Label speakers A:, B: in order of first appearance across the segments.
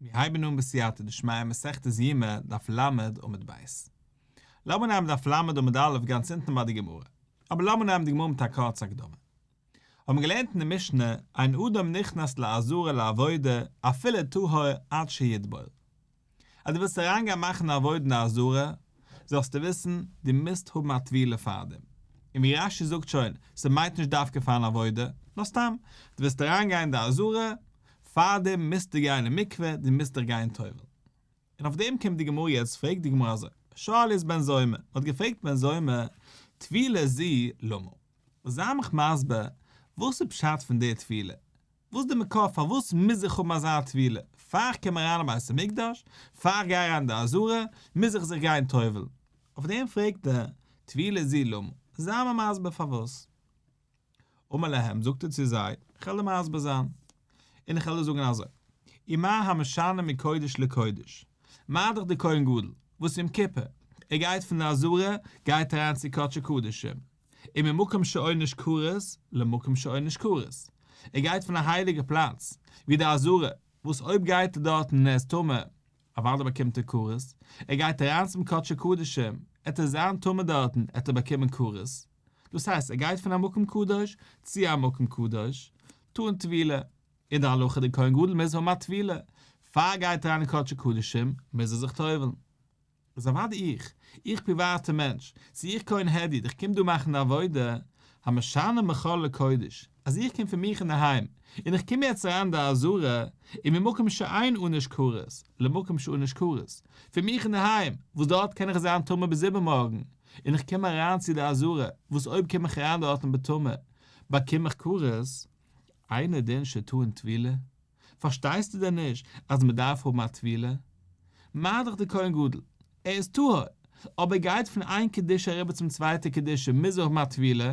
A: מיר הייבן אן בסייעתא דשמיא מסכת יומא דף ל' עמוד ב'. לאמיר נעמען דף ל' עמוד א' גאנץ אונטן ביי די גמרא. אבער לאמיר נעמען די גמרא מיט א קורצע הקדמה. האט מען געלערנט אין די משנה, אין אדם נכנס לעזרה לעבודה אפילו טהור עד שיתבול. אז דו ווילסט אריינגיין מאכן א עבודה זרה, זאלסטו וויסן, דו מוזט האבן א טבילה פאר דעם. און ווי רש י זאגט שוין, ס'מיינט נישט דווקא פארן עבודה, נאר סתם, דו ווילסט אריינגיין אין די עזרה, פאר דעם מוזטו גיין אין מקווה, דו מוזט דיך גיין טובל. און אויף דעם קומט די גמרא יעצט פרעגט די גמרא אזוי, שאל איז בן זומא, מען האט געפרעגט בן זומא, טבילה ז ל, למה? זיי מיך מסביר, וואס איז פשט פון דער טבילה? וואס די מקור פארוואס מוז איך האבן אזא טבילה? פאר איך קום אריין אין בית המקדש? פאר איך גיי אריין אין די עזרה? מוז איך זיך גיין טובל'ן? אויף דעם פרעגט דער טבילה ז ל למה? זיי מיר מסביר פארוואס. אמר להם זאגט ער צו זיי, איך העל דיר מסביר זיין, און איך העל דיר זאגן אזוי, ומה המשנה מקודש לקודש? מיינט דאך דער כהן גדול, וואס יום כיפור ער גייט פון די עזרה גייט ער אריין צו קדשי קדשים, און ממקום שאין איש כרת למקום שאין איש כרת, ער גייט פון א הייליגע פלאץ, ווי די עזרה, וואס אויב גייט ער דארטן און ער איז טמא, אוודאי באקומט ער כרת, ער גייט אריין צום קדשי קדשים, עט ער זיין טמא דארטן עט ער באקומען כרת, דאס הייסט ער גייט פון א מקום קדוש צו א מקום קדוש, טאן טבילה, אין די הלכה די כהן גדול מוז האבן א טבילה, פאר ער גייט אריין אין קדשי קדשים מוז ער זיך טובל'ן. איז אוודאי איך, איך פריוואטע מענטש, צו איך כהן העדיד, איך קום דא מאכן די עבודה, המשנה מכל לקודש, אז איך קום פון מיך אינדערהיים, און איך קום יעצט אריין אין די אזהרה, און ממקום שאין אנוש כרת, למקום שאנוש כרת, פון מיך אינדערהיים, וואס דארט קען איך זיין טמא ביז איבערמארגן, און איך קום אריין צו די אזהרה, וואס אויב קום איך אריין דארטן בטמא, באקום איך כרת, אינו דין שטעון טבילה? פארשטייסטו דען נישט אז מען דארף האבן א טבילה? מה דאך די כהן גדול, ער איז טהור, אויב ער גייט פון איין קדושה אריבער צום צווייטע קדושה מוז ער האבן א טבילה?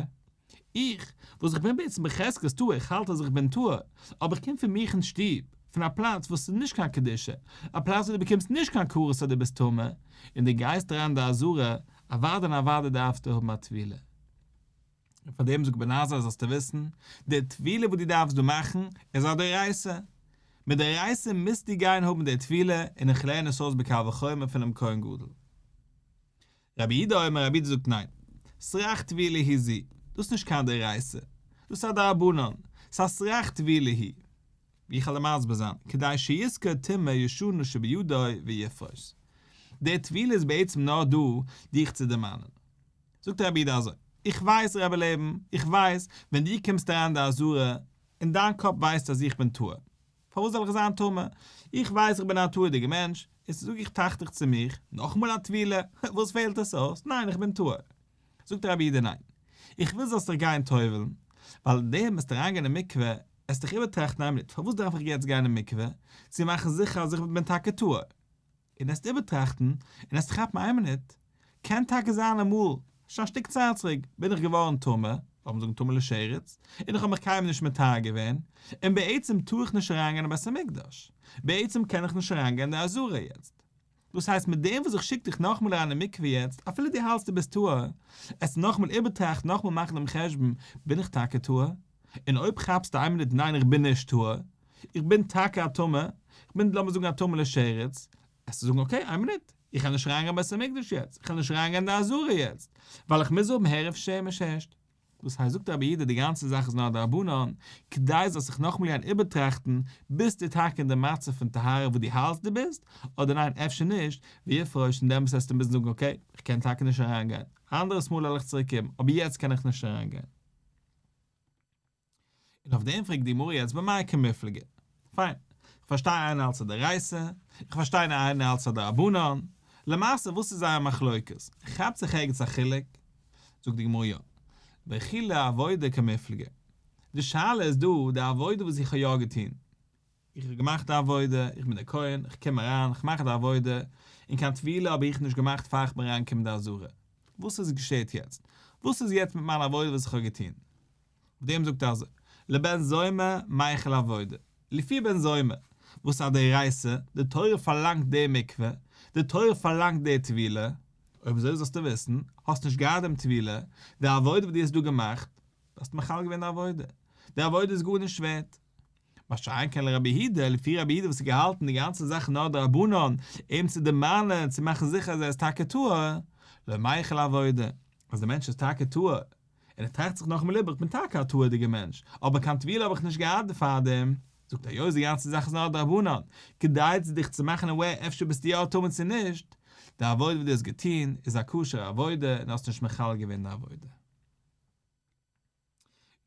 A: איך, וואס איך בין בעצם בחזקת טהור, איך האלט אז איך בין טהור, אבער איך קום פון מיך אין שטוב, פון א פלאץ וואס איז נישט קיין קדושה, א פלאץ וואס דו באקומסט נישט קיין כרת אז דו ביסט טמא, און דו גייסט אריין אין די עזרה, אוודאי און אוודאי דארפסטו האבן א טבילה. און פאר דעם זאגט בן עזרא זאלסטו וויסן, די טבילה וואס דו דארפסט דא מאכן איז א דאורייתא, מדאורייתא מוזטו גיין האבן די טבילה, און איך לערן עס אויס בקל וחומר פונעם כהן גדול. רבי איד א אומר רבי איד זאגט ניין, סרח טבילה היא זי, דאס איז נישט קיין דאורייתא, דאס איז א דרבנן, ס'איז א סרח טבילה היא, ווי איך עלע מסביר זיין, כדי שיזכור טומאה ישנה שבידו ויפרוש. די טבילה איז בעצם נאר דא דיך צו דערמאנען. זאגט דער רבי איד אזוי, איך ווייס רבי לעבן, איך ווייס, ווען דו קומסט אריין די אזהרה, און דיין קאפ ווייסט אז איך בין טמא, פארוואס זאל איך זיין טמא? איך ווייס איך בין א תאוה'דיגע מענטש, און ס'זאג איך טראכט איך צו מיך, נאכאמאל א טבילה, וואס פעלט עס אויס, ניין איך בין טמא. זאגט דער רבי איד ניין, איך וויל זאלסט דיך גיין טובל'ן, ווייל די וועסט אריינגיין אין מקווה, עסט דיך איבערטראכטן איין מינוט, פארוואס דארף איך יעצט גיין אין מקווה, צו מאכן זיכער אז איך בין טאקע טהור? און עסט איבערטראכטן, און עסט כאפן איין מינוט, קען טאקע זיין אמאל, שוין א שטיק צייט צוריק, בין איך געווארן טמא, לאמיר זאגן טמא לשרץ, און איך האב מיך קיינמאל נישט מטהר געווען, און בעצם טאר איך נישט אריינגיין אין בית המקדש, בעצם קען איך נישט אריינגיין אין די עזרה יעצט. דאס הייסט מיט דעם וואס איך שיק דיך נאכמאל אריין אין מקווה יעצט, אפילו דו האלטסט דו ביסט טהור, עסט נאכמאל איבערטראכטן, נאכמאל מאכן דעם חשבון, בין איך טאקע טהור? און אויב כאפסטו איין מינוט ניין איך בין נישט טהור, איך בין טאקע א טמא, איך בין לאמיר זאגן א טמא לשרץ, עסטו זאגן אקעי איין מינוט, איך קען נישט אריינגיין בית המקדש יעצט, איך קען נישט אריינגיין אין די עזרה יעצט, ווייל איך מוז האבן הערב שמש הערשט. דאס הייסט זאגט רבי אידה די גאנצע זאך איז נאר א דרבנן, כדי זאלסט זיך נאכאמאל גייען איבערטראכטן ביסטו טאקע אין די מצב פון טהרה וואס דו האלטסט דו ביסט, אדער ניין אפשר נישט, ווי עפרוישט און דעמאלטס עסטו מוזן זאגן אקעי איך קען טאקע נישט אריינגיין, אנדערעס מאל עלעך צוריק קומען, אבער יעצט קען איך נישט אריינגיין. און אויף דעם פרעגט די גמרא יעצט במאי כמפלגה. פיין, כ'פארשטיי איינער האלט ס'איז דאורייתא, איך פארשטיי איינער האלט ס'איז א דרבנן, למעשה וואס איז זייער מחלוקת? כאפט זיך ערגעץ א חילוק? זאגט די גמרא יא, וכו' עבודה כמפלגה. די שאלה איז דא די עבודה וואס איך האב יא געטון. איך האב געמאכט די עבודה, איך בין דער כהן, איך קום אריין, איך מאך די עבודה, און קיין טבילה האב איך נישט געמאכט פאר איך בין אריינגעקומען אין די עזרה. וואס איז געשעהט יעצט? וואס איז יעצט מיט מיין עבודה וואס איך האב געטון? אויף דעם זאגט ער אזוי, לבן זומא מייחל עבודה, לפי בן זומא, וואס א דאורייתא, די תורה פארלאנגט די מקווה, די תורה פארלאנגט די טבילה, אויב אזוי זאלסטו וויסן, האסט נישט געהאט דעם טבילה, די עבודה וואס דו האסט דא געמאכט, דו האסט מחלל געווען די עבודה, די עבודה איז גארנישט ווערט. מה שאין כן לרבי הידא, לפי רבי הידא וואס האט געהאלטן די גאנצע זאך נאר דרבנן, אים צו דערמאנען, צו מאכן זיכער אז ער איז טאקע טהור, לא מייחל לעבודה, אז דער מענטש איז טאקע טהור, און ער טראכט זיך נאך אין ליב איך בין טאקע א טהור'דיגער מענטש, אבער קיין טבילה האב איך נישט געהאט דערפאר דעם, זאגט ער היות די גאנצע זאך איז נאר דרבנן, כדי צו דיך צו מאכן aware אפשר ביסטו יא א טמא צו נישט, די עבודה וואס דו האסט געטון איז א כשר'ע עבודה און האסט נישט מחלל געווען די עבודה.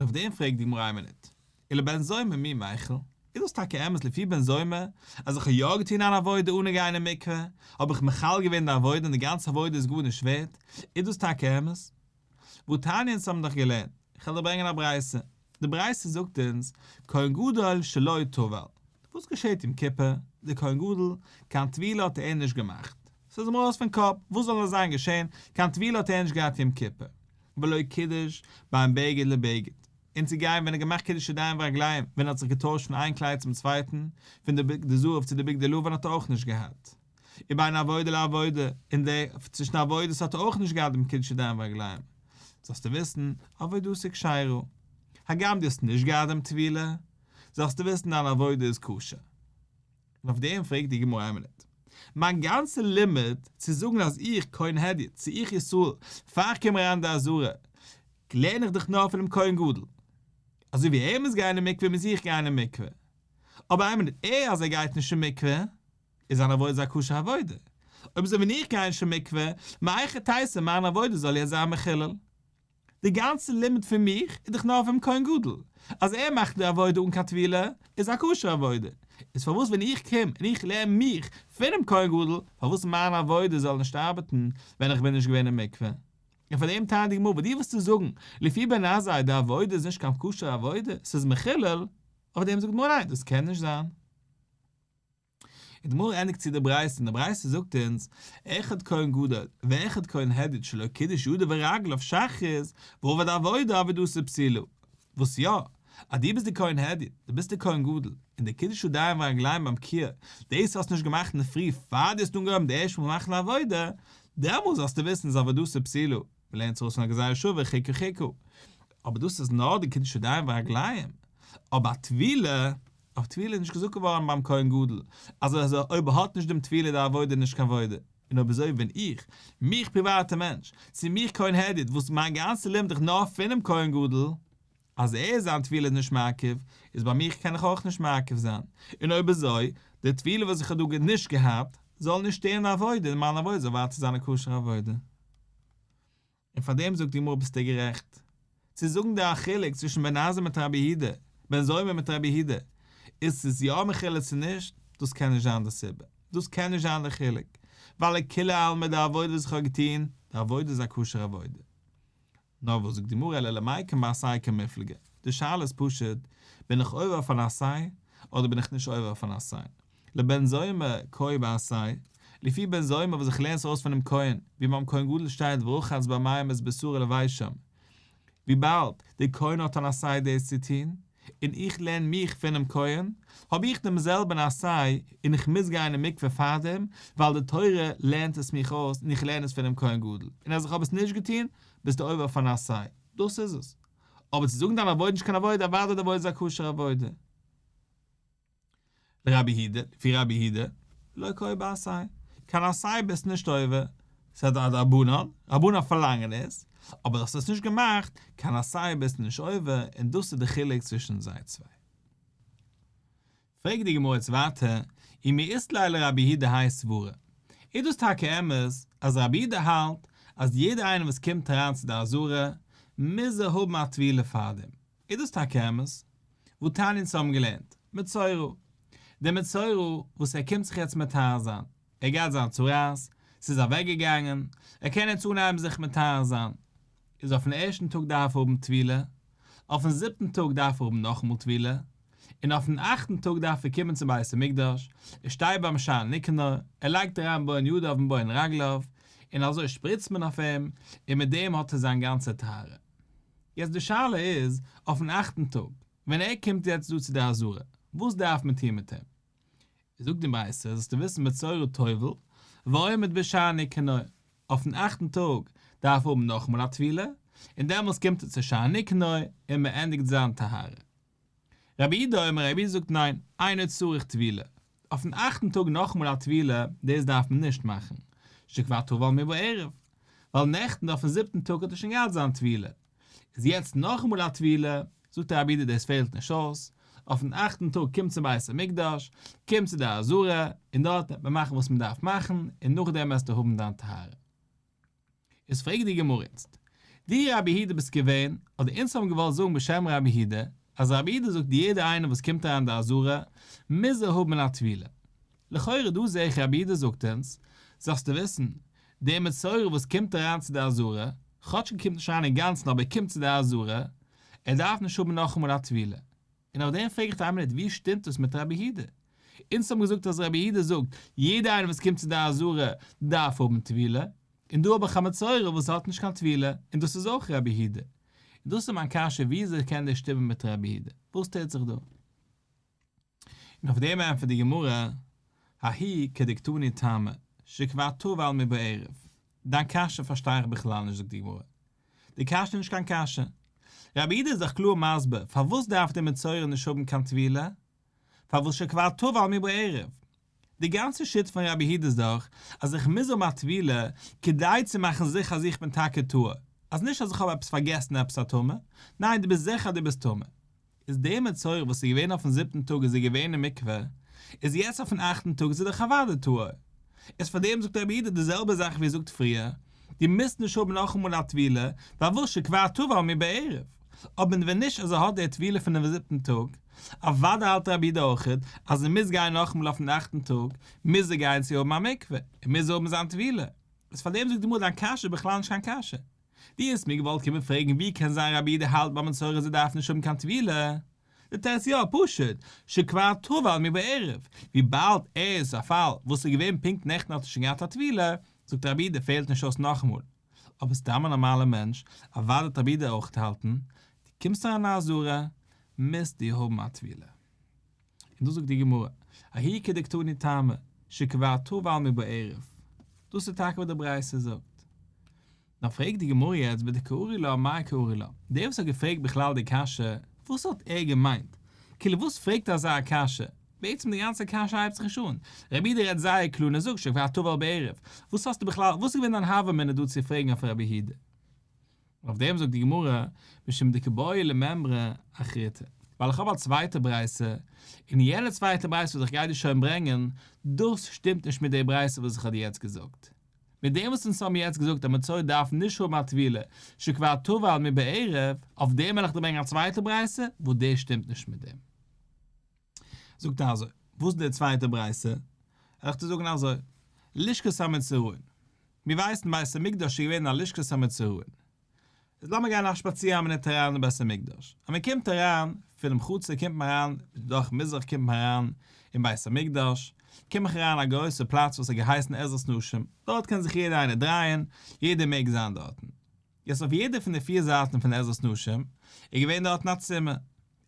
A: און אויף דעם פרעגט די גמרא אין מניד, אילו בן זומא מי מיכל, איז דאס טאקע אמת לפי בן זומא, אז איך האב יא געטון אן עבודה אנע גיין אין מקווה, האב איך מחיל געווען די עבודה און די גאנצע עבודה איז גארנישט ווערט, איז דאס טאקע אמת? והוא תעניא אונז האבן דאך געלערנט, איך וועל דיר ברענגען א ברייתא, די ברייתא זאגט אונז, כהן גדול שלא טבל, וואס געשעט יום כיפור, דער כהן גדול, קיין טבילה האט ער נישט געמאכט, ס'איז אים ארויס פון קאפ, וואס זאל נאר זיין געשען, קיין טבילה האט ער נישט געהאט יום כיפור. בלויז קידוש ביים בגד לבגד, און צו גיין ווען ער האט געמאכט קידוש ידיים ורגליים, ווען ער האט זיך געטוישט פון איין קלייד צום צווייטן, פון די בגדי זהב צו די בגדי לבן האט ער אויך נישט געהאט. ובין עבודה לעבודה, אין די צווישן עבודות האט ער אויך נישט געהאט דעם קידוש ידיים ורגליים. זאלסטו וויסן, עבודתו כשרה. הגם דו האסט נישט געהאט דעם טבילה, זאלסטו וויסן דיין עבודה איז כשר. און אויף דעם פרעגט די גמרא איין מינוט, מיין גאנצע לימוד צו זאגן אז איך כהן הדיוט צו איך ישראל פאר איך קום אריין אין די עזרה לערן איך דאך נאר פונעם כהן גדול, אזוי ווי ער מוז גיין אין מקווה מוז איך גיין אין מקווה, אבער איין מינוט, ער אז ער גייט נישט אין מקווה איז זיין עבודה א כשר'ע עבודה, אויב אזוי ווען איך גיי נישט אין מקווה, מאיכא טייסא מיין עבודה זאל יא זיין מחולל. די גאנצע לימוד פון מיך איז דאך נאר אויפן כהן גדול, אז ער מאכט די עבודה אן קיין טבילה איז א כשר'ע עבודה, איז פארוואס ווען איך קום און איך לערן מיך פונעם כהן גדול פארוואס מיין עבודה זאל נישט ארבעטן ווען איך בין נישט געווען אין מקווה? און פאר דעם טענה'ט די גמרא וואס דו ווילסט צו זאגן לפי בן עזאי די עבודה איז נישט קיין כשר'ע עבודה ס'איז מחולל, אויף דעם זאגט די גמרא ניין דאס קען נישט זיין. און די גמרא ענדיגט צו די ברייתא, און די ברייתא זאגט אונז, אחד כהן גדול, ואחד כהן הדיוט שלא קידש ידו ורגלו אויף שחרית, ועובד עבודה עבודתו פסילא. וואס יא? אז דו ביסט די כהן הדיוט, דו ביסט די כהן גדול, און די קידוש ידיים ורגליים ביים קוה, דאס האסטו נישט געמאכט אינדערפרי פאר דו האסט אנגעהויבן די ערשטע מאל מאכן א עבודה, דעמאלס זאלסטו וויסן איז עבודתו פסילא, מ'לערנט עס אויס פון א גזירה שוה חיכו חיכו. אבער דאס איז נאר די קידוש ידיים ורגליים, אבער א טבילה, אויף טבילה איז נישט געזאגט געווארן ביים כהן גדול אז אז אויב האט נישט דעם טבילה די עבודה איז נישט קיין עבודה. און אויב אזוי ווען איך, מיך פריוואטע מענטש, צו מיך כהן העדית וואס מיין גאנצע לעבן דיך נאר פונעם כהן גדול, אז ער זיין טבילה איז נישט מעכב, איז ביי מיך קען איך אויך נישט מעכב זיין, און אויב אזוי, די טבילה וואס איך האב דא נישט געהאט, זאל נישט שטערן די עבודה, און מיין עבודה זאל ווייטער זיין א כשר'ע עבודה. און פאר דעם זאגט די גמרא ביסטו גערעכט. צו זאגן די א חילוק צווישן בן עזר מיט רבי יהודה, בן זומא מיט רבי יהודה, איז ס'איז יא מחילה צו נישט, דאס קען נישט זיין די סיבה, דאס קען נישט זיין די חילוק, ווייל לכולי עלמא די עבודה וואס איך האב געטוהן, די עבודה איז א כשר עבודה. נאר וואס זאגט די גמרא אלא למאי קן בעשאי קן מפלגה, די שאלה איז פשוט, בין איך עובר אויף אן עשאי, אדער בין איך נישט עובר אויף אן עשאי? לבן זומא קוי בעשאי, לפי בן זומא וואס איך לערן עס אויס פונעם כהן, ווי ביים כהן גדול שטייט ורחץ במים את בשרו לבית שם, וויבאלד דער כהן האט אן עשאי דאס צו טון, און איך לערן מיך פונעם כהן, האב איך דעם זעלבן עשאי און איך מוז גיין אין מקווה פארדעם, ווייל די תורה לערנט עס מיך אויס און איך לערן עס פונעם כהן גדול, און אז איך האב עס נישט געטון, ביסטו עובר אויף אן עשאי, דאס איז עס. אבער צו זאגן דיין עבודה איז נישט קיין עבודה, אוודאי די עבודה איז א כשר'ע עבודה. רבי הידע, לפי רבי הידע, לא קוי בעשאי, קיין עשאי ביסט נישט עובר, ס'איז א דרבנן, רבנן פארלאנגען עס, אבער דו האסט עס נישט געמאכט, קיין עשאי ביסט נישט עובר, און דאס איז די חילוק צווישן זיי צוויי. פרעגט די גמרא יעצט ווייטער, אי מאיסלאי לרבי הידע האי סברא, איז דאס טאקע אמת אז רבי הידע האלט אז יעדער איינער וואס קומט אריין צו די אזהרה, מוז ער האבן א טבילה פארדעם, איז דאס טאקע אמת? וואו תנין צו האבן געלערנט, מצורו. דער מצורו וואס ער קומט זיך יעצט מטהר זיין, ער גייט זיין צרעת, ס'איז אוועק געגאנגען, ער קען יעצט אנהייבן זיך מטהר זיין, איז אויפן ערשטן טאג דארף ער האבן טבילה, אויפן זיבטן טאג דארף ער האבן נאכאמאל טבילה, און אויפן אכטן טאג דארף ער קומען צום בית המקדש, ער שטייט ביים שער ניקנור, ער לייגט אריין בוין יד אויפן בוין רגליו, און אזוי שפריצט מען אויף אים, און מיט דעם האט ער זיין גאנצע טהרה. יעצט די שאלה איז, אויפן אכטן טאג, ווען ער קומט יעצט דא צו די עזרה, וואס דארף מען טון מיט אים? זאגט די מעשה, זאלסטו וויסן בצורו טובל, ועומד בשערי קנאה, אויפן אכטן טאג דארף ער האבן נאכאמאל א טבילה, און דעמאלס קומט ער צו שערי קנאה און מען ענדיגט זיין טהרה. רבי איד אומר רבי איד זאגט ניין, איינער צריך טבילה, אויפן אכטן טאג נאכאמאל א טבילה, דאס דארף מען נישט מאכן, שכבר טבל מי בערב, ווייל נעכטן אויפן זיבטן טאג האט ער שוין געהאט זיין טבילה, איז יעצט נאכאמאל א טבילה, זאגט רבי איד דאס פעלט נישט אויס, אויפן אכטן טאג קומט צום בית המקדש, קומט צו די עזרה, און דארט וועט מען מאכן וואס מען דארף מאכן, און נאכדעם וועסטו האבן דיין טהרה. איז פרעגט די גמרא איצט, דו רבי יהודה ביסט געווען, אדער אונז האבן געוואלט זאגן בשם רבי יהודה, אז רבי יהודה זאגט יעדער איינער וואס קומט אריין די אזהרה מוז ער האבן א טבילה. לכאורה דא זעה איך רבי יהודה זאגט אונז, זאלסטו וויסן, דער מצורע וואס קומט אריין צו די אזהרה, כאטש ער קומט נישט אריין אינגאנצן אבער ער קומט צו די אזהרה, ער דארף נישט האבן נאכאמאל א טבילה. און אויף דעם פרעג איך פאר איין מינוט, ווי שטימט עס מיט רבי יהודה? אונז האבן געזאגט אז רבי יהודה זאגט, יעדער איינער וואס קומט צו די עזרה דארף האבן טבילה, און דא האב איך א מצורע וואס האט נישט קיין טבילה, און דאס איז אויך רבי יהודה. און דאס איז מיין קשיא, ווי אזוי קען דאס שטימען מיט רבי יהודה? וואס טוט זיך דא? און אויף דעם ענטפערט די גמרא, האי כדקתני טעמא, שכבר טב על מי בערב, דיין קשיא פארשטיי איך בכלל נישט זאגט די גמרא. די קשיא איז נישט קיין קשיא. רבי איד איז דאך קלאר מסביר פארוואס דארף די מצורע נישט האבן קיין טבילה, פארוואס שכבר טבל מי בערב. די גאנצע שיטה פון רבי איד איז דאך אז איך מוז האבן א טבילה כדי צו מאכן זיכער אז איך בין טאקע טהור, אז נישט אז איך האב עפעס פארגעסן עפעס א טומאה, ניין דו ביסט זיכער אז דו ביסט טמא. איז דער מצורע וואס איז געווען אויפן זיבטן טאג איז ער געווען אין מקווה, איז יעצט אויפן אכטן טאג איז ער דאך אוודאי טהור, איז פאר דעם זאגט רבי איד די זעלבע זאך ווי ער זאגט פריער, דו מוזט נישט האבן נאכאמאל א טבילה, ווייל וואס שכבר טבל מי בערב, אבער ווען נישט אז ער האט דער טבילה פונעם זיבטן טאג, אוודאי האלט רבי איד אויך אז ער מוז גיין נאכאמאל אויפן אכטן טאג, מוז ער גיין צו האבן א מקווה, און מוז ער האבן זיין טבילה, איז פאר דעם זאגט די גמרא דיין קשיא איז בכלל נישט קיין קשיא. דו האסט מיר געוואלט קומען פרעגן ווי קען זיין רבי די האלט ביי מסורה זי דארף נישט האבן קיין טבילה? די תרץ יא פשוט שכבר טבל מי בערב וויבאלד ער איז א פאל וואס איז געווען פונקט נעכטן האט ער שוין געהאט א טבילה זאגט רבי די פעלט נישט אויס נאכאמאל אבער סתם א נארמאלע מענטש אוואדע האט רבי די אויך געהאלטן דו קומסט אריין אין א אזורה מוזט דו האבן א טבילה. און דאס זאגט די גמרא, ההיא כדקתני טעמא, שקבעתו בעלמא בערב, דאס איז טאקע וואס די ברייתא זאגט. נאר פרעגט די גמרא יעצט ביי די קאורי לה מאי קאורי לה, דער וואס האט געפרעגט בכלל די קשיא, וואס האט ער געמיינט? כאילו וואס פרעגט ער אזא קשיא? בעצם די גאנצע קשיא הייבט זיך נישט אן, רבי איד רעדט זייער קלאר און ער זאגט שקבעתו בעלמא בערב, וואס האסטו בכלל, וואס איז געווען דיין הווא מינא דא צו פרעגן אויף רבי איד? אויף דעם זאגט די גמרא, משום דקבעו לממרא אחריתא. ווייל איך האב א צווייטע ברייתא, און יענע צווייטע ברייתא וואס איך גיי דיר שוין ברענגען, דאס שטימט נישט מיט די ברייתא וואס איך האב דיר יעצט געזאגט. מיט דעם וואס אונז האבן יעצט געזאגט אז מען צויי דארף נישט האבן א טבילה שכבר טבל מבעירב, אויף דעם וועל איך דיר ברענגען א צווייטע ברייתא וואס דאס שטימט נישט מיט דעם. זאגט ער אזוי, וואס איז די צווייטע ברייתא? עלעך צו זאגן אזוי, לשכת המצורעים, מיר ווייסן בית המקדש איז געווען א לשכת המצורעים, איז לאמיר גיין א שפאציר אז מען נעמט אריין אין בית המקדש, אז מען קומט אריין פונעם חצר קומט מען אריין דורך מזרח קומט מען אריין אין בית המקדש, קום איך אריין א גרויסע פלאץ וואס האט געהייסן עזרת נשים, דארט קען זיך יעדער איינער דרייען, יעדער מעג זיין דארטן, יעצט אויף יעדע פון די פיר זייטן פון עזרת נשים איז געווען דארטן א צימער,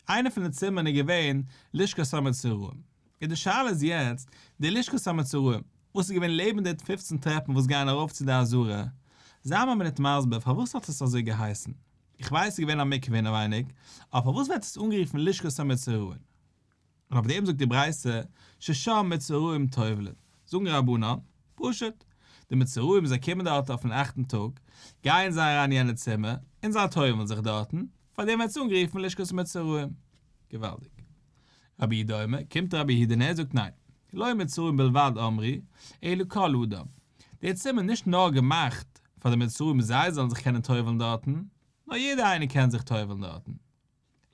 A: איינע פון די צימערן איז געווען לשכת המצורעים, און די שאלה איז יעצט, די לשכת המצורעים, וואס איז געווען לעבן די פופצן טרעפן וואס גייען ארויף צו די עזרה, זיי מיר מינוט מסביר פארוואס האט עס אזוי געהייסן? איך ווייס ס'איז געווען א מקווה אינעווייניג, אבער פארוואס ווערט עס אנגערופן לשכת המצורעים? און אויף דעם זאגט די ברייתא ששם מצורעים טובלין, זאגן רבנן, פשוט, די מצורעים זיי קומען דארט אויפן אכטן טאג, גייען זיי אריין אין יענע צימער, און זיי טובל'ן זיך דארטן, פאר דעם ווערט עס אנגערופן לשכת מצורעים. געוואלדיג. רבי דומה, קומט רבי יהודה און ער זאגט ניין, לא מצורעים בלבד אמרי, אלא כל אדם, די צימער איז נישט נאר געמאכט פאר די מצורעים זיי זאלן זיך קענען טובל'ן דארטן, נאר יעדער איינער קען זיך טובל'ן דארטן.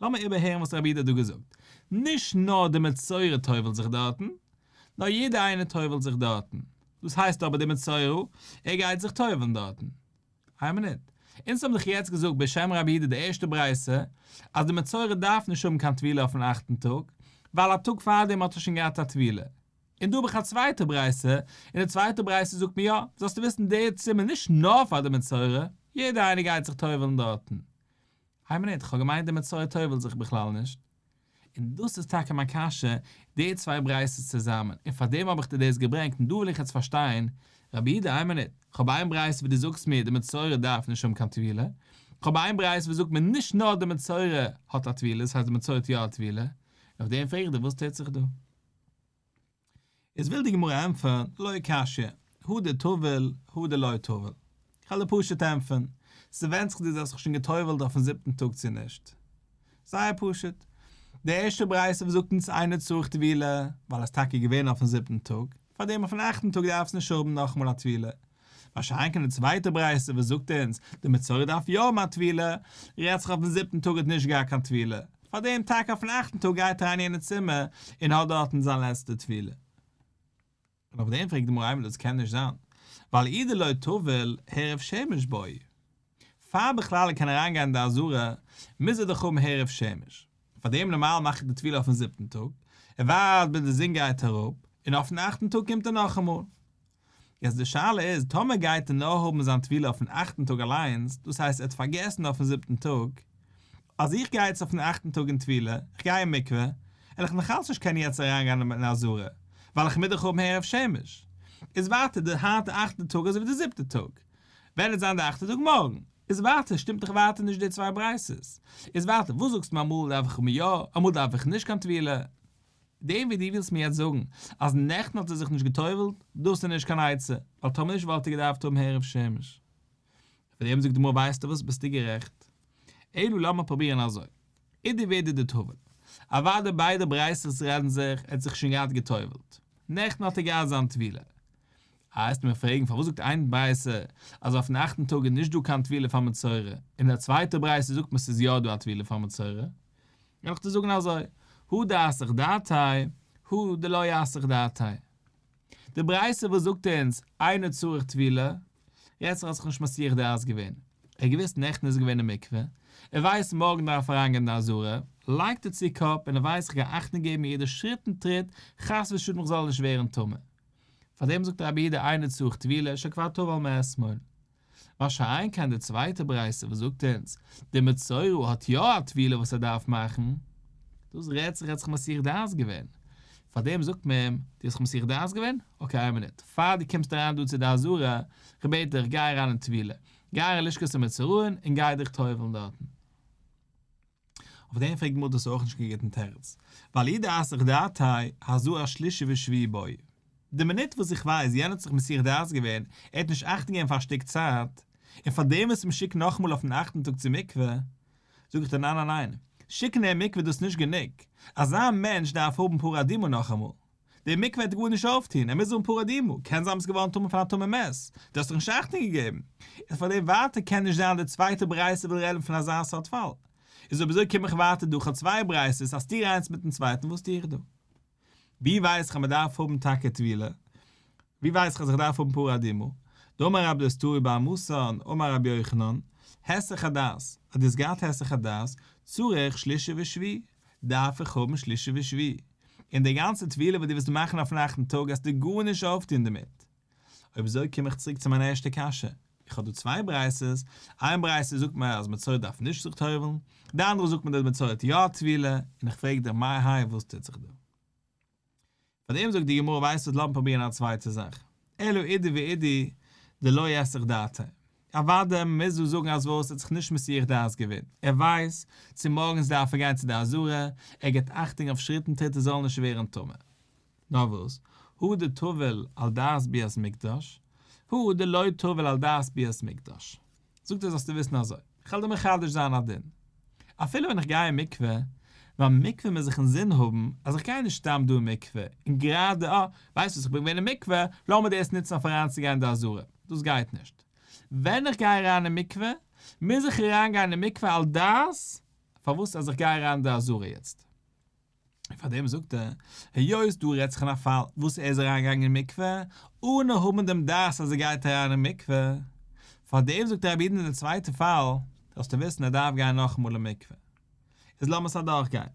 A: לאמיר איבערהערן וואס רבי איד האט דא געזאגט, נישט נאר די מצורע טובל'ט זיך דארטן, נאר יעדער איינער טובל'ט זיך דארטן, דאס הייסט אבער די מצורע ער גייט זיך טובל'ן דארטן? איין מינוט, אונז האבן דאך יעצט געזאגט בשם רבי איד די ערשטע ברייתא אז די מצורע דארף נישט האבן קיין טבילה אויפן אכטן טאג, ווייל א טאג פארדעם האט ער שוין געהאט א טבילה, און דא האב איך א צווייטע ברייתא, און די צווייטע ברייתא זאגט מיר יא, זאלסטו וויסן דער צימער נישט נאר פאר די מצורע, יעדער איינער גייט זיך טובל'ן דארטן. הייב ניט, כ'האב געמיינט די מצוה טובל'ט זיך בכלל נישט. און דאס איז טאקע מיין קשיא, די צוויי בריית'עס צוזאמען, און פארדעם האב איך דיר דאס געברענגט, און דא וויל איך יעצט פארשטיין, רבי איד, איין מינוט, כ'האב איין ברייתא וואו דו זאגסט מיר די מצורע דארף נישט האבן קיין טבילה, כ'האב איין ברייתא וואס זאגט מיר נישט נאר די מצורע האט א טבילה, דאס הייסט די מצורע האט יא א טבילה, און אויף דעם פרעג איך דיר וואס טוט זיך דא? איז וויל די גמרא ענטפערן, לא קשיא, הוא דטובל, הוא דלא טובל. כ'וועל דיר פשוט ענטפערן, ס'ווענדט זיך דו זאלסט זיך שוין גע'טובל'ט אויפ'ן זיבטן טאג צו נישט. זייער פשוט. די ערשטע ברייתא וואס זאגט אונז אינו צריך טבילה, ווייל ער איז טאקע געווען אויפ'ן זיבטן טאג, פארדעם אויפ'ן אכטן טאג דארף עס נישט האבן נאכאמאל א טבילה, מה שאין כן די צווייטע ברייתא וואס זאגט אונז די מצורע דארף יא האבן א טבילה, רעדט זיך אויפן זיבטן טאג האט נישט געהאט קיין טבילה, פארדעם טאקע אויפן אכטן טאג גייט אריין אין יענע צימער און האט דארטן זיין לעצטע טבילה. און אויף דעם פרעגט די מראה דאס קען נישט זיין, ווייל אידער לא טובל הערב שמש בוי, פאר בכלל ער קען אריין גיין אין די אזהרה מוז ער דאך האבן הערב שמש, פארדעם נארמאל מאכט ער די טבילה אויפן זיבטן טאג, ער ווארט ביז די זון גייט אראפ, און אויפן אכטן טאג קומט ער נאכאמאל. יעצט די שאלה איז טאמער גייט ער נאר האבן זיין טבילה אויפן אכטן טאג אליינס, דאס הייסט ער האט פארגעסן אויפן זיבטן טאג, אז איך גיי יעצט אויפן אכטן טאג אין טבילה, איך גיי אין מקווה, וועל איך נאכאלץ נישט קענען יעצט אריינגיין אין א זרע, ווייל איך מידעך האבן הערב שמש, איז ווייטער די היינטע אכטע טאג אזויווי די זיבטע טאג, ווען עט זיין די אכטע טאג מארגן, איז ווייטער שטימט דאך ווייטער נישט די צוויי ברייתות, איז ווייטער וואס זאגסטו מיר אמאל דארף איך יא אמאל דארף איך נישט קיין טבילה. דעם וואס דו ווילסט מיר יעצט זאגן אז נעכטן האט ער זיך נישט גע'טובל'ט, דאס איז נישט קיין עצה, ווייל טאמער נישט וואלט ער געדארפט האבן הערב שמש. אויף דעם זאגט די גמרא ווייסטו וואס, ביסטו גערעכט. אילו לאמיר פרובירן אזוי, אידי ואידי דטובל, אוודאי ביידע ברייתות רעדן זיך, ער האט זיך שוין געהאט גע'טובל'ט, נעכטן האט ער געהאט זיין טבילה. איי העסטו מיר פרעגן פארוואס זאגט איין ברייתא אז אויפן אכטן טאג איז נישט דא קיין טבילה פאר מצורע, און אין א צווייטע ברייתא זאגט מען ס'איז יא דא א טבילה פאר מצורע, נעמעך צו זאגן אזוי, הוא דאסך דאתאי, הוא דלא יאסך דאתאי. די ברייתא וואס זאגט אונז אינו צריך טבילה, רעדט זיך אז איך האב נישט מסיח דעת געווען. ער האט געוואוסט נעכטן איז געווען אין מקווה, ער ווייסט מארגן דארף אריינגיין די אזהרה, לייגט ער צו קאפ און ער ווייסט איך גיי אכטונג געבן יעדע שריט און טריט חס ושלום איך זאלל נישט ווערן טמא. פארדעם זאגט רבי יהודה אינו צריך טבילה, שכבר טבל מאתמול. מה שאין כן די צווייטע ברייתא וואס זאגט אונז די מצורע האט יא א טבילה וואס ער דארף מאכן, דאס רעדט זיך ער האט זיך מסיח דעת געווען, פארדעם זאגט מען אים דו האסט זיך מסיח דעת געווען? אקעי איין מינוט, פאר דו קומסט אריין דא צו די אזהרה, כ'בעט דיך גיי אריין אין טבילה, גיי אין לשכת המצורעין און גיי דיך טובל'ן דארטן. אויף דעם פרעגט מודז דאס איז אויך נישט קיין גוטן תירוץ, ווייל אידא אסך דאתי הזו א שלישי ושביעי בוי. די מינוט וואס איך ווייס יענער האט זיך מסיח דעת געווען, ער האט נישט אכט געגעבן פאר א שטיק צייט, און פאר דעם וואס מען שיקט נאכאמאל אויפן אכטן טאג צו מקווה, זאג איך דיר ניין ניין ניין, שיקן אין מקווה דאס נישט גענוג, אזא מענטש דארף האבן פרא אדימו נאכאמאל. די מקווה העט ער גארנישט אויפטון, ער מוז האבן פרה אדומה, קען זיין מ'איז געווארן טמא פון א טמא מת, דו האסט דאך נישט אכטונג געגעבן, איז פון דעם ווייטער קען נישט זיין די צווייטע ברייתא וויל רעדן פון אזא סארט פאל, איז אויב אזוי קום איך ווייטער דא, כ'האב צוויי ברייתות, א סתירה איינס מיטן צווייטן, וואס טו איך דא? ווי ווייס איך אז מ'דארף האבן טאקע טבילה? ווי ווייס איך אז איך דארף האבן פרה אדומה? דאמר רב דאס טורי באר מסאן אמר רבי יוחנן, הסח הדעת, האט דאס געהאט הסח הדעת, צריך שלישי ושביעי. דארף איך האבן שלישי ושביעי, און די גאנצע טבילה וואס דו וועסט מאכן אויף נאכטן טאג האסטו גארנישט אויפטון דערמיט. אויב אזוי קום איך צוריק צו מיין ערשטע קשיא, איך האב דא צוויי בריית'ס, איין ברייתא זאגט מיר אז מצורע דארף נישט זיך טובל'ן, די אנדערע זאגט מיר דאס מצורע האט יא טבילה, און איך פרעג דיך מהאי האי וואס טוט זיך דא? פאר דעם זאגט די גמרא ווייסט וואס לאמיר פרובירן א צווייטע זאך אלא אידי ואידי דלא יסיח דעתו אוואדע מוז דא זאגן אז וואס ער האט זיך נישט מסיח דעת געווען ער ווייסט צו מארגענס דארף ער גיין צו די אזהרה ער גיבט אכטונג אויף שריטן טריט ער זאל נישט ווערן טמא נאר וואס הוא דטובל על דעת ביאת מקדש הוא דלא טובל על דעת ביאת מקדש זאגט ער זאלסטו וויסן אזוי, איך וועל דיר מחדש זיין א דין, אפילו ווען איך גיי אין מקווה, ביים מקווה מוז איך אינזין האבן אז איך גיי נישט סתם דא אין מקווה, און גראדע אה, ווייסט וואס איך בין געווען אין מקווה, לאמיר דאס נוצן אויף אריינצוגיין אין די אזהרה, דאס גייט נישט. ווען איך גיי אריין אין מקווה, מוז איך אריינגיין אין מקווה על דעת פארוואס אז איך גיי אריין אין די אזהרה יעצט. און פאר דעם זאגט ער, היות דא רעדט זיך אין א פאל וואס ער איז אריין געגאנגען אין מקווה אנע האבן דעם דעת אז ער גייט אריין אין מקווה, פאר דעם זאגט רבי איד אין די צווייטע פאל זאלסטו וויסן ער דארף גיין נאכאמאל אין מקווה. איז לאמערס אדורך גיין.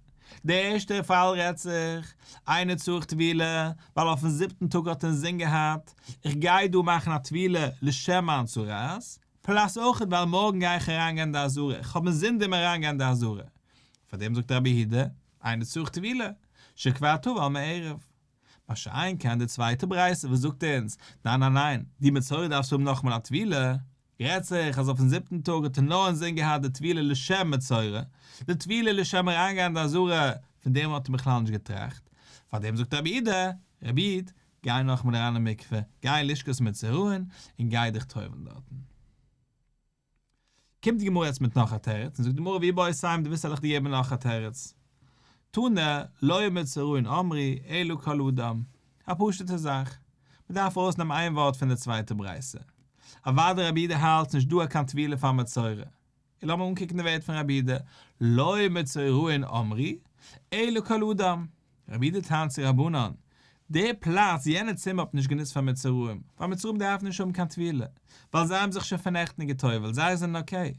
A: די ערשטע פאל רעדט זיך, איינער צריך טבילה ווייל אויפן זיבטן טאג האט ער אינזין געהאט, איך גיי דא מאכן א טבילה לשם מיין צרעת, פלאס אויכעט ווייל מארגן גיי איך אריין גיין אין די אזהרה, איך האב אינזין דעם אריין גיין אין די אזהרה, פאר דעם זאגט רבי יהודה, איינער צורך טבילה, שכבר טבל מערב. מה שאין כן די צווייטע ברייתא וואס זאגט אונז, ניין ניין ניין, די מצורע דארפסטו האבן נאכמאל א טבילה, רעדט זיך אז אויפן זיבטן טאג האט ער נאר אינזין געהאט די טבילה לשם מצורע, די טבילה לשם אריינגיין אין די אזהרה, פון דעם האט ער בכלל נישט געטראכט. פאר דעם זאגט רבי יהודה, רבי איד, גיי נאכמאל אריין אין מקווה, גיי אין לשכת מצורעין, און גיי דיך טובל'ן דארטן. קומט די גמרא יעצט מיט נאך א תירוץ און זאגט די גמרא ווי בא יסיים די וויסט העל איך דיר געבן נאך א תירוץ תנא לא יאמר צרעין אמרי אלא כל אדם א פשוטע זאך מען דארף ארויסנעמען איין ווארט פון די צווייטע ברייתא אוואדי רבי אידה האלט ס'נישט דא א קיין טבילה פאר מצורע און לאמיר אנקוקן די ווערט פון רבי אידה לא יאמר צרעין אמרי אלא כל אדם רבי אידא טענה'ט צו רבנן, די פלאץ, יענע צימער האט מען נישט גענוצט פאר מצורעים, ווייל מצורעים דארפן נישט האבן קיין טבילה, ווייל זיי האבן זיך שוין פארנעכטן געטובל'ט, זיי זענען אקעי.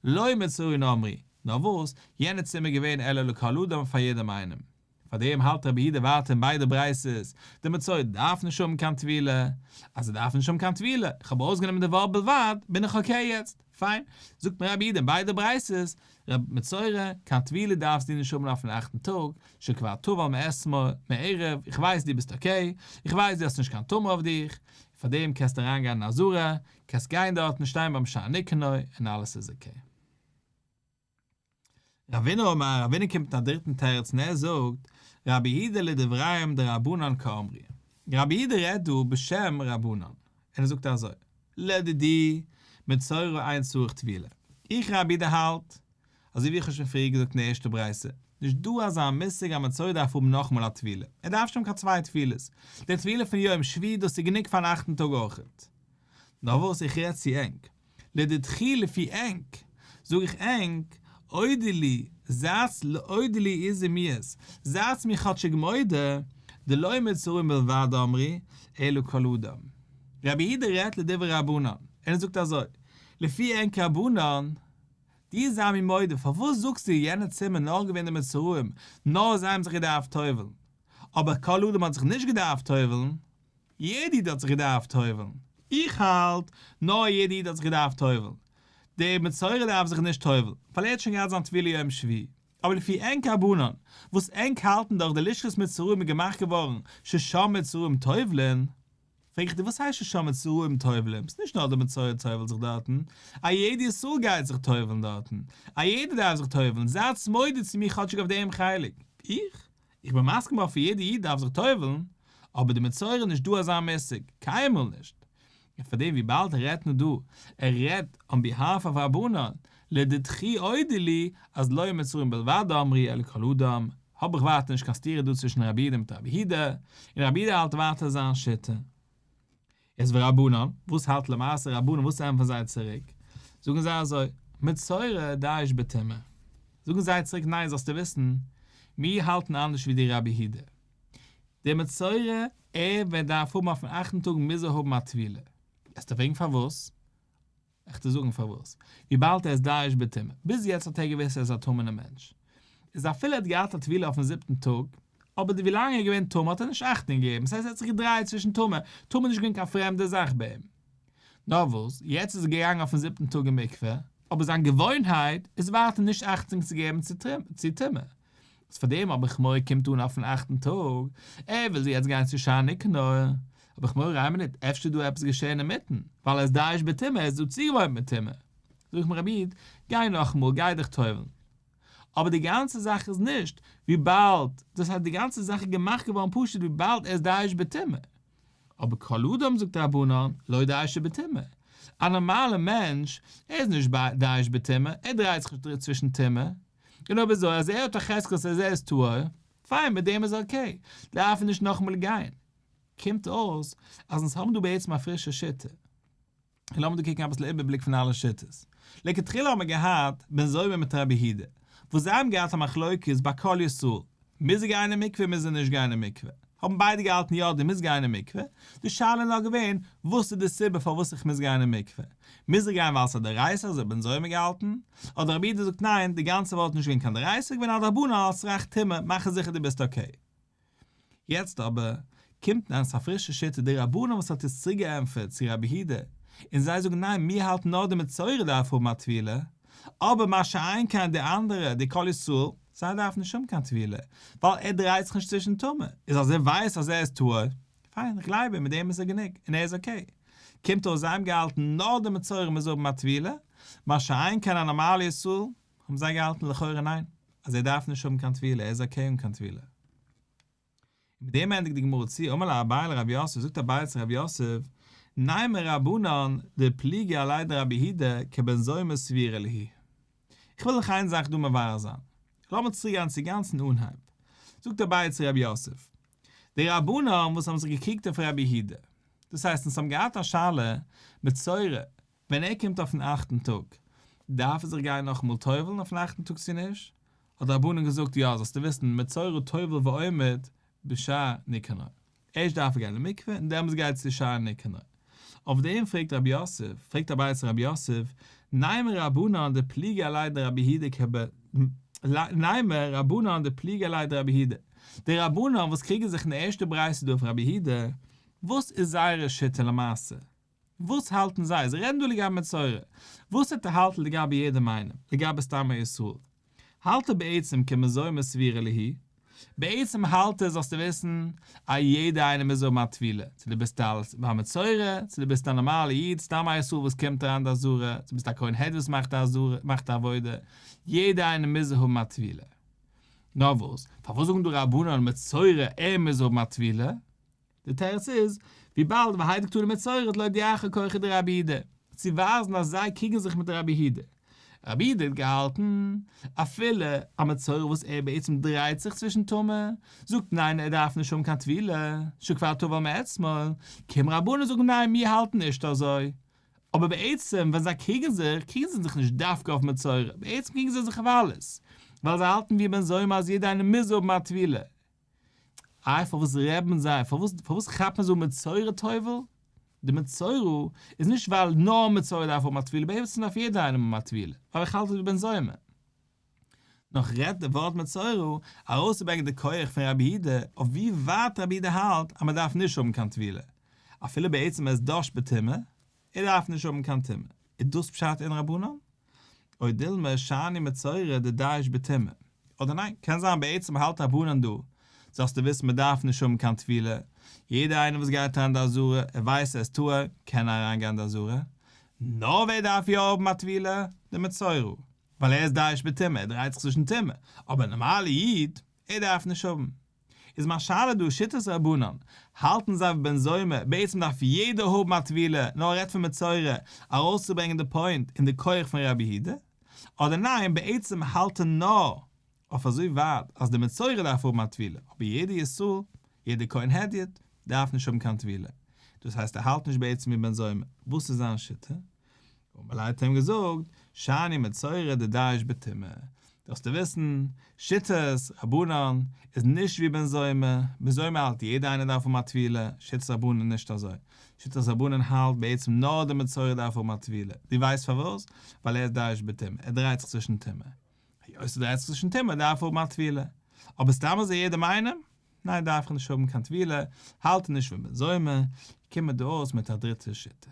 A: לא מצורין אמרי, נאר וואס, יענע צימער איז געווען אלא לכל אדם פאר יעדעם איינעם. פאר דעם האלט רבי אידא ווייטער אין ביידע ברייתות, די מצורעים דארפן נישט האבן קיין טבילה, אז זיי דארפן נישט האבן קיין טבילה, איך האב אויסגענומען די ווארט בלבד, בין איך אקעי יעצט. פיין, זאגט מיר רבי איד אין ביידע ברייתות, רבי מצורע, קיין טבילה דארפסט דו נישט האבן אויפן אכטן טאג, שכבר טבל מאתמול, מעריב, איך ווייס דו ביסט אקעי, איך ווייס דו האסט נישט קיין טומאה אויף דיך, פארדעם קענסטו אריין גיין אין עזרה, קענסט גיין דארט און שטיין ביים שער ניקנור, און אלעס איז אקעי. רבינו אמר, רבינו קומט מיט א דריטן תירוץ און ער זאגט, רבי אידא לדבריהם דרבנן כאמרי, רבי אידא רעדט דא בשם רבנן, און ער זאגט אזוי, לדידי מצורע אין צריך טבילה, איך רבי אידא האלט, אזוי ווי איך האב שוין פריער געזאגט אין די ערשטע ברייתא, נישט דא אזא מושג אז מצורע דארף האבן נאכאמאל א טבילה, ער דארף נישט האבן קיין צוויי טבילות, די טבילה פון יום שביעי דאס איז גענוג פארן אכטן טאג אויכעט. נאר וואס, איך רעד צו ענק, לדדכי לפי ענק, זאג איך ענק, אודי לי, זאץ ל אודי לי איזי מיעס, זייטס מיר כאטשיג מודה, דלא מצרים בלבד אמרי, אלא כל אדם. רבי איהודה רעדט לדברי רבנן, און ער זאגט אזוי, לפי ענק רבנן, דיר זיי מיר מודה, פארוואס זאגסטו יענע צומען נאר געווען די מצריים, נאר זיי האבן זיך געדארפט טובל'ן, אבער כל אדם האט זיך נישט געדארפט טובל'ן, יעדע איד האט זיך געדארפט טובל'ן? איך האלט, נאר יעדע איד האט זיך געדארפט טובל'ן. דער מצורע דארף זיך נישט טובל'ן, ווייל ער האט שוין געהאט זיין טבילה יום שביעי. אבער לפי ענק אבנן, וואס ענק האלטן דאך די לשכת מצורעים איז געמאכט געווארן ששה מצורעים טובל'ן. פרעג איך דיר, וואס הייסט ששה מצורעים טובל'ן? ס'נישט נאר דער מצורע טובל'ט זיך דארטן, א יעדע ישראל גייט זיך טובל'ן דארטן. א יעדער דארף זיך טובל'ן. זייטס מודה צו מיר כאטשיג אויף דעם חלק. איך? איך בין מסכים אויף ווי יעדע איד דארף זיך טובל'ן, אבער די מצורע איז נישט דא אזא מושג, קיינמאל נישט. און פארדעם וויבאלד ער רעדט נאר דא, ער רעדט אן ביהאלף אוו רבנן, לדידכי אודי לי אז לא מצורין בלבד דאמרי אלא כל אדם, האב איך ווייטער נישט קיין סתירה דא צווישן רבי איד מיט רבי הידא, און רבי הידא האלט ווייטער זיין שיטה. איז ורבנן, וואס האלט למעשה רבנן, וואס ענטפערן זיי צוריק? זאגן זיי אזוי, מצורע דאיש בתימא. זאגן זיי צוריק, ניין, זאלסטו וויסן, מיר האלטן אנדערש ווי דיר רבי הידער. דער מצורע, ער וועט דארף האבן אויפן אכטן טאג מוז ער האבן א טבילה. וועסטו פרעגן פארוואס? איך טו זאגן פארוואס. וויבאלד ער איז דאעש ב טמא. ביז יעצט האט ער געוואוסט ער איז א טמא'נער מענטש. איז אפילו ער האט געהאט א טבילה אויפן זיבטן טאג, אבער די ווילאנג ער איז געווען טמא האט ער נישט אכטונג געגעבן. עס הייסט ער האט זיך געדרייעט צווישן טמא. טמא איז נישט געווען קיין פרעמדע זאך ביי אים. נאר וואס, יעצט איז ער געגאנגען אויפן זיבטן טאג אין מקווה, אבער זיין געוואוינהייט איז ווייטער נישט אכטונג צו געבן צו טמא. וואס פאר דעם האב איך מורא קומט אן אויפן אכטן טאג, ער וויל זי יעצט גיין צו שער ניקנור, האב איך מורא איין מינוט אפשר איז דא עפעס געשען אינמיטן, ווייל ער איז דאעש בטומאה ער איז דא צוגעוואוינט מיט טומאה, זאג איך מיר רבי איד גיי נאכאמאל גיי דיך טובל'ן, אבער די גאנצע זאך איז נישט, וויבאלד, דאס הייסט די גאנצע זאך איז געמאכט געווארן פשוט וויבאלד ער איז דאעש בטומאה, אבער כל אדם זאגט רבנן לא דאעש בטומאה, א נארמאלע מענטש ער איז נישט דאעש בטומאה ער דרייט זיך נישט צווישן טומאה, גענוי ווי אזוי אז ער האט א חזקה אז ער איז טהור, פיין מיט דעם איז אקעי, דארף ער נישט נאכאמאל גיין. קומט אויס אז אונז האבן דא בעצם א פרישע שיטה. און לאמיר דא קוקן אביסל איבערבליק פון אלע שיטות. לכתחילה האט מען געהאט בן זומא מיט רבי הידא, וואס זיי האבן געהאט א מחלוקת ביי כל ישראל, מוז ער גיין אין מקווה מוז ער נישט גיין אין מקווה? האבן ביידע געהאלטן יא דו מוזט גיין אין מקווה, די שאלה איז נאר געווען וואס איז די סיבה פארוואס איך מוז גיין אין מקווה, מוז איך גיין ווייל עס איז א דערייסער אזוי בנז האבן געהאלטן, אדער רבי איד זאגט ניין די גאנצע וואלט נישט געווען קיין דערייסער געווען א דרבנן אלס רח ת מאכן זיכער דו ביסט אקעי. יעצט אבער קומט נאכדעם א פרישע שיטה די רבנים וואס האט עס צוריק געענטפערט צו רבי הידע און זיי זאגן ניין מיר האלטן נאר די מצורע דארף האבן א טבילה אבער מה שאין כן די אנדערע די כל ישראל זיי דארפן נישט האבן קיין טבילה ווייל ער דרייט זיך נישט צווישן טומאה איז אז ער ווייסט אז ער איז טהור פיין איך גלייב אים מיט דעם איז ער גענוג און ער איז אקעי קומט אויס זיי האבן געהאלטן נאר די מצורע מוז האבן א טבילה מה שאין כן א נארמאלע ישראל האבן זיי געהאלטן לכאורה ניין אז ער דארף נישט האבן קיין טבילה ער איז אקעי אן קיין טבילה. און מיט דעם ענדיגט די גמרא צו אמר לה אביי לרבי יוסף זאגט אביי צו רבי יוסף ניימר רבנן די פליגי עלי דרבי הידא כבן זומא סבירא ליהי איך וויל דיך איין זאך דא מברר זיין לאמיר צוריק גיין צו גאנצן אנהייב זאגט אביי צו רבי יוסף די רבנן וואס האבן זיך געקריגט אויף רבי הידא דאס הייסט אונז האבן געהאט א שאלה מצורע ווען ער קומט אויפן אכטן טאג דארף ער זיך גיין נאכאמאל טובל'ן אויפן אכטן טאג צו נישט? האט די רבנן געזאגט יא זאלסטו וויסן מצורו טובל ועומד בשער ניקנור, ערשט דארף ער גיין אין מקווה און דעמאלס גייט צו שער ניקנור, אויף דעם פרעגט רבי יוסף פרעגט א בית רבי יוסף ניימר רבנן דפליגי עלי דרבי הידע כ ב ניימר רבנן דפליגי עלי דרבי הידע די רבנן וואס קריגן זיך אין די ערשטע ברייתא דא אויף רבי הידע וואס איז זייערע שיטה למעשה? וואס האלטן זיי? זיי רעדן דא לגבי מצורע. וואס האט ער האלטן לגבי יעדעם איינעם? לגבי סתם א איסור? האלט ער בעצם כמזוה מסבירה ליהי? בעצם האלט ער זאלסטו וויסן א יעדע איינער מוז האבן א טבילה, צו דו ביסט א בר מצורע, צו דו ביסט א נארמאלע איד, סתם א איסור וואס קומט אריין די אזהרה, צו ביסט א כהן העד וואס מאכט א אזהרה, מאכט א עבודה, יעדע איינער מוז האבן א טבילה. נארוואס, פארוואס זאגן דא רבנן על מצורע ער מוז האבן א טבילה? די תירוץ איז, וויבאלד והי' דקתא דמצורעת לויט די אחר כוחא דרבי י ד, צו ווייזן אז זיי קריגן זיך מיט רבי י ד. רבי י ד האט געהאלטן, אפילו א מצורע וואס ער בעצם דרייט זיך צווישן טומאה, זאגט ניין ער דארף נישט האבן קיין טבילה, שכבר טבל מאתמול, קומען רבנים זאגן ניין מיר האלטן נישט אזוי. אבער בעצם ווען זיי קריגן זיך, קריגן זיי זיך נישט דווקא אויף מצורע, בעצם קריגן זיי זיך אויף אלעס, ווייל זיי האלטן ווי בן זומא אז יעדע איינער מוז האבן א טבילה, איי פארוואס רעבן זיי, פארוואס פארוואס כאפט מען זאגן מצורע טובל, די מצורע איז נישט ווייל נאר מצורע דארף האבן א טבילה, בעצם דארף יעדער איינעם האבן א טבילה, ווייל איך האלט עס ווי בן זומא. נאך רעדט די ווארט מצורע ארויסצוברענגען די כח פון רבי אידה אויף ווי ווייט רבי אידה האלט אז מען דארף נישט האבן קיין טבילה אפילו בעצם עס דארשט בטומאה, ער דארף נישט האבן קיין טומאה. איז דאס פשט אין רבנן? אוי דילמא שאני מצורע די דייש בטומאה. אדער ניין? קען זיין בעצם האלט רבנן דא, זאלסטו וויסן מען דארף נישט האבן קיין טבילה, יעדער איינער וואס גייט אריין די עזרה, ער ווייסט ער איז טהור, קען אריין גיין די עזרה. נאר ווער דארף יא האבן א טבילה? די מצורע. ווייל ער איז דייש בטומאה, ער דרייט זיך צווישן טומאה. אבער א נארמאלע איד, ער דארף נישט האבן. איז מיין שאלה דא שיטת רבנן, האלטן זיי ווי בן זומא, בעצם דארף יעדער האבן א טבילה, נאר ער רעדט פון מצורע, ארויסצוברענגען די פוינט און די כח פון רבי יהודה, אדער ניין בעצם האלט ער נאר אויף אזוי ווייט אז די מצורע דארף האבן א טבילה, אבער יעדער ישראל, יעדער כהן הדיוט, דארף נישט האבן קיין טבילה, דאס הייסט ער האלט נישט בעצם ווי בן זומא, וואס איז זיין שיטה? און האט אים געזאגט, שאני מצורע דדעיש בטומאה, זאלסטו וויסן, שיטת רבנן איז נישט ווי בן זומא, בן זומא האלט יעדער איינער דארף האבן א טבילה, שיטת רבנן נישט אזוי, שיטת רבנן האלט בעצם נאר דער מצורע דארף האבן א טבילה, דו ווייסט פארוואס? ווייל ער איז דעיש בטומאה, ער דרייט זיך צווישן טומאה. היות ס'איז דא עסקן טעמע דארף ער האבן א טבילה, אבער סתם אזוי יעדעם איינעם? ניין דארף ער נישט האבן קיין טבילה, האלט ער נישט פון בן זומא, קומט דא אויס מיט א דריטע שיטה.